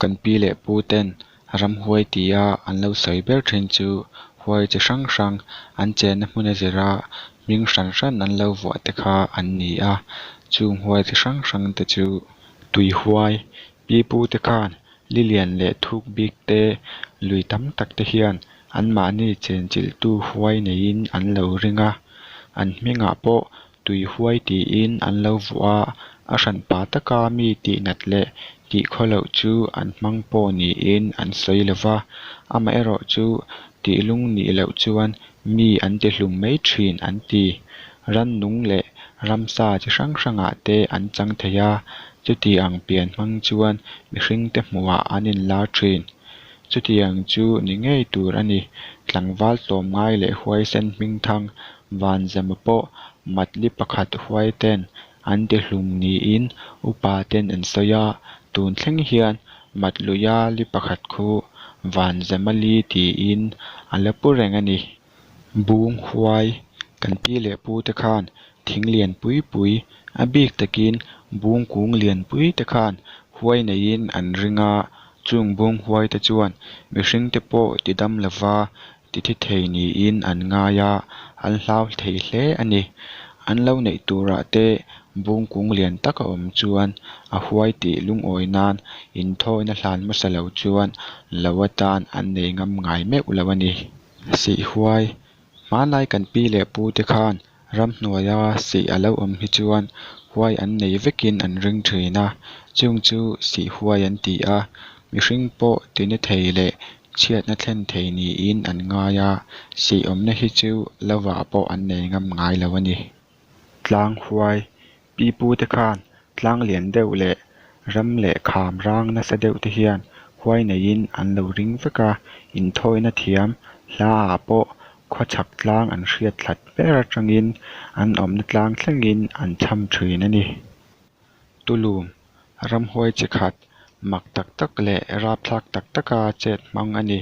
Kan pi leh pu ten ram huai ti a an lo sawi ber thin chu huai chi hrang hrang an chenna hmuna zira hming hran hran an lo vuah te kha an ni a chung huai chi hrang hrang te chu tui huai, Pi Pu te khan Lilian leh Thuk Bik te lui tam tak te hian an mahni chenchilhtu huai neiin an lo ring a, an hmingah pawh tui huai tiin an lo vuah a, a hranpa taka mi tihnat leh tih khaw loh chu an hmang pawh niin an sawi lo va, amaherawhchu tihlung nih loh chuan Mi an ti hlum mai thin an ti. Rannung leh ramsa chi hrang hrangah te an chang thei a, chuti ang pian hmang chuan mihringte hmuhah an inlar thin. Chutiang chu ni ngei tur a ni. Tlangval tlawm ngai leh huaisen hming thang vanzema pawh matli pakhat huaiten An ti hlum niin upa ten an sawi a, tun thleng hian Matluia li pakhat khu Vanzamali tiin a la pu reng a ni. Bung huai kan pi leh pu te khan thing lian pui pui a bik takin bung kung lian pui te khan huai neiin an ring a, chung bung huai te chuan mihring te pawh ti dam lova titi thei niin an ngai a, an hlau thei hle a ni. An lo neih turah te bung kung lian tak a awm chuan a huai tih lungawi nan inthawiin a hlan hmasa lo chuan lo atan an nei ngam ngai meuh lo a ni. Sihhuai, hmanlai kan pi leh pu te khan Ramhnuaia sih a lo awm hi chuan huai an nei vekin an ring thin a, chung chu sih huai an ti a, mihring pawh ti ni thei leh chhiatna thlen thei niin an ngai a, sih awmna hi chu lovah pawh an nei ngam ngai lo a ni. Tlang huai Pi Pute khan tlang lian deuh leh ram leh kham rang nasa deuh te hian huai neihin an lo ring vek a, inthawina thiam hla ah pawh khua chhak tlang an hriat thlat ber atangin an awmna tlang thlengin an chham thin a ni. Tulum ramhuai chi khat mak tak tak leh rapthlak tak taka chet hmang a ni.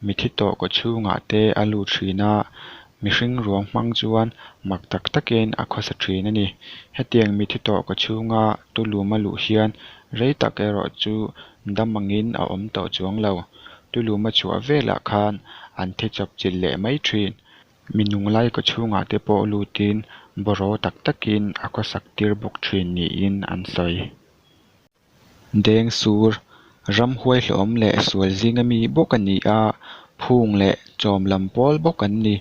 Mithi tawh kaw chhungah te a lut thin a, mihring ruam hmang chuan mak tak takin a khawsa thin a ni. Hetiang mithi tawh kaw chhunga tu lum a luh hian rei tak erawh chu dam angin a awm tawh chuang lo. Tu lum a chhuah velah khan an thi chawp chilh leh mai thin. Minung lai ka chhungah te pawh lutin boraw tak takin a khawsak tir bawk thin niin an sawi. Deng sur, ram huai hlawm leh sual zing ami bawk a ni a, phung leh chawm lam pawl bawk an ni.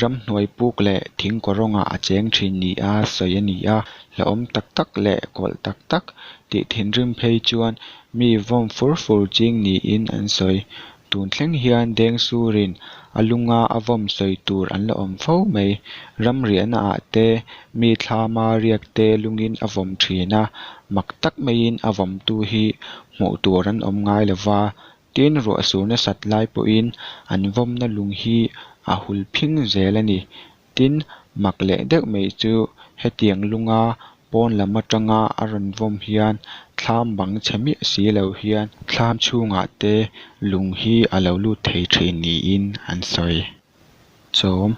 Ram hnuai puk leh thing kawrawngah a cheng thin nia sawi a ni a, hlawm tak tak leh kawlh tak tak tih thinrim phei chuan mi vawm fur fur ching niin an sawi. Tun thleng hian Deng Surin a lunga a vawm sawi tur an la awm fo mai. Ram riahna ah te, mi thlama riak te lungin a vawm thin a, mak tak maiin a vawmtu hi hmuh tur an awm ngai lo va, tin ruahsur nasat lai pawhin an vawmna lung hi a hul phing zel a ni Tin, mak leh deuh mai chu hetiang lunga pawn lam atanga a rawn vawm hian thlam bang chhe miah si lo hian thlam chhungah te lung hi a lo lut thei thin niin an sawi. Chawm,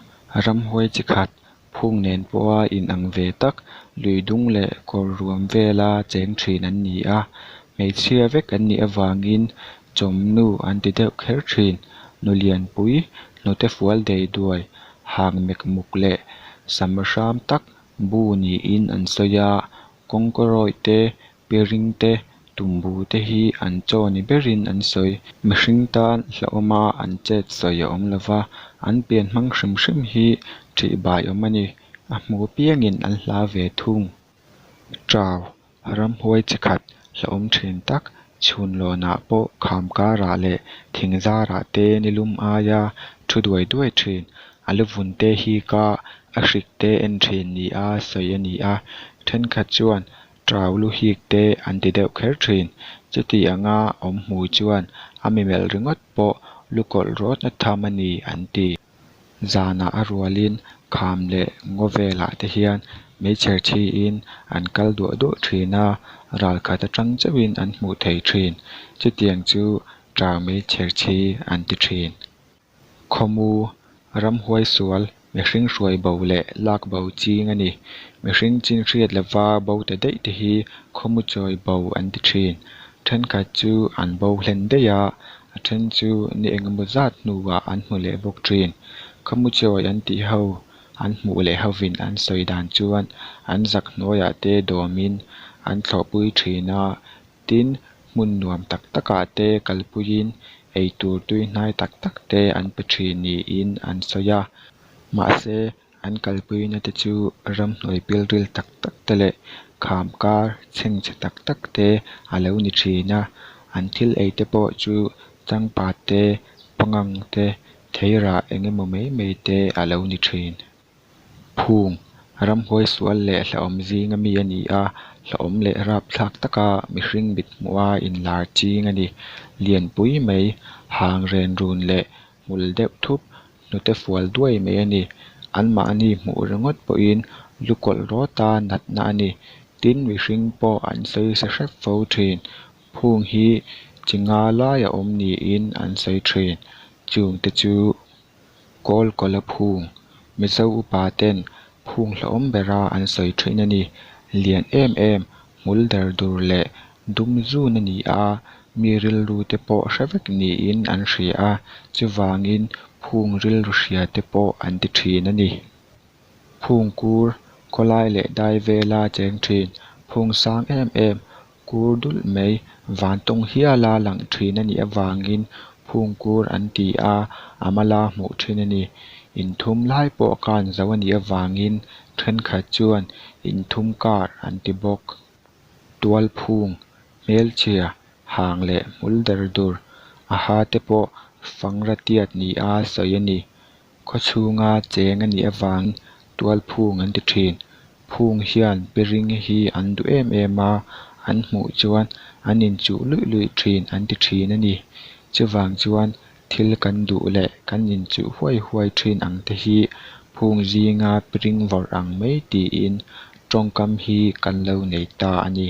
Ramhuai chi khat phung nen pawha in ang ve tak, lui dung leh kawr ruam vela cheng thin an ni a, hmeichhia vek an nih avangin Chawmnu an ti deuh kher thin. Nulianpui, hnute fual dei duai, hang mek muk leh sam hram tak bu niin an sawi a. Kawngkawrawih te, pi ring te, tumbu te hi an chaw ni berin an sawi. Mihring tan hlauhawma an chet sawi a awm lova, an pian hmang hrim hrim hi thih bai awm a ni. A hmu piangin an hla ve thung. Tau, ramhuai chi khat hlauhawm thin tak chhun lawnah pawh kham karah leh thing zarah te ni lum aia thu duai duai thin. A lu vun te hi ka a hrik te en thin ni a sawi a ni a, thenkhat chuan Tau lu hik te an ti deuh kher thin. Chutih anga awm hmui chuan a mi melh ringawt pawh lu kawlh rawtna tham a ni an ti. Zanah a rualin kham leh ngaw velah te hian meichher thiin an kal duah duah thin a, ral khat atang chauhin an hmuh theih thin. Chutiang chu ṭa meichher thi an ti thin. Khawmu, ram huai sual, mihring hruai bo leh lak bo ching a ni. Mihring chinhriat lova bo ta daih te hi khawmu chawi bo an ti thin. Thenkhat chu an bo hlen daih a, a then chu ni eng emaw zat hnua an hmu leh bawk thin. Ka hmu chawih an tih ho, an hmuh leh hovin an sawi dan chuan an zak hnuaiah te dawmin an thlawhpui thin a, tin, hmun nuam tak takah te kalpuiin eitur tuihnai tak tak te an pe thin niin an sawi a. Mahse, An kalpuina te chu ramhnuai pilril tak tak te leh kham kar chheng che tak tak te a lo ni thin a, an thil ei te pawh chu changpat te, pangang te, theirah eng emaw mai mai te a lo ni thin. Phung, ramhuai sual leh hlauhawm zing a mi a ni a, hlauhawm leh rap thlak taka mihring mithmuh a inlar ching a ni. Lianpui mai, hang renrun leh hmul deuh thup, hnute fual duai mai a ni. Anmahni hmuh ringawt pawhin lu kawlh rawt a natna a ni. Tin, mihring pawh an sawi se hrep fo thin. Phung hi chi nga lai a awm niin an sawi thin. Chung te chu Kawl Kawla Phung. Mizo upa ten phung hlauhawm bera an sawi thin a ni. Lian em em, hmul der dur leh Dum zun a ni a, mi rilru te pawh hre vek niin an hria a, chuvangin phung rilru hria te pawh an ti thin a ni. Phung kur, khawlai leh dai vela cheng thin, phung sang em em, kur dulh mai, vantawng hiala lang thin a nih avangin phung kur an ti a, a mala hmuh thin a ni. Inthum lai pawh kan zoh a nih avangin thenkhat chuan inthum kar an ti bawk. Tualphung, hmelchhia, hang leh hmul dar dur a ha te pawh fangra tiat ni a sawi a ni. Khawchhunga cheng a nih avangin tualphung an ti thin. Phung hian piring hi an duh em em a, an hmuh chuan an inchuh luih luih thin an ti thin a ni. Chuvang chuan Thil kan duh leh kan inchuh huai huai thin ang te hi phung zinga piring varh ang mai tiin tawngkam hi kan lo nei ta a ni.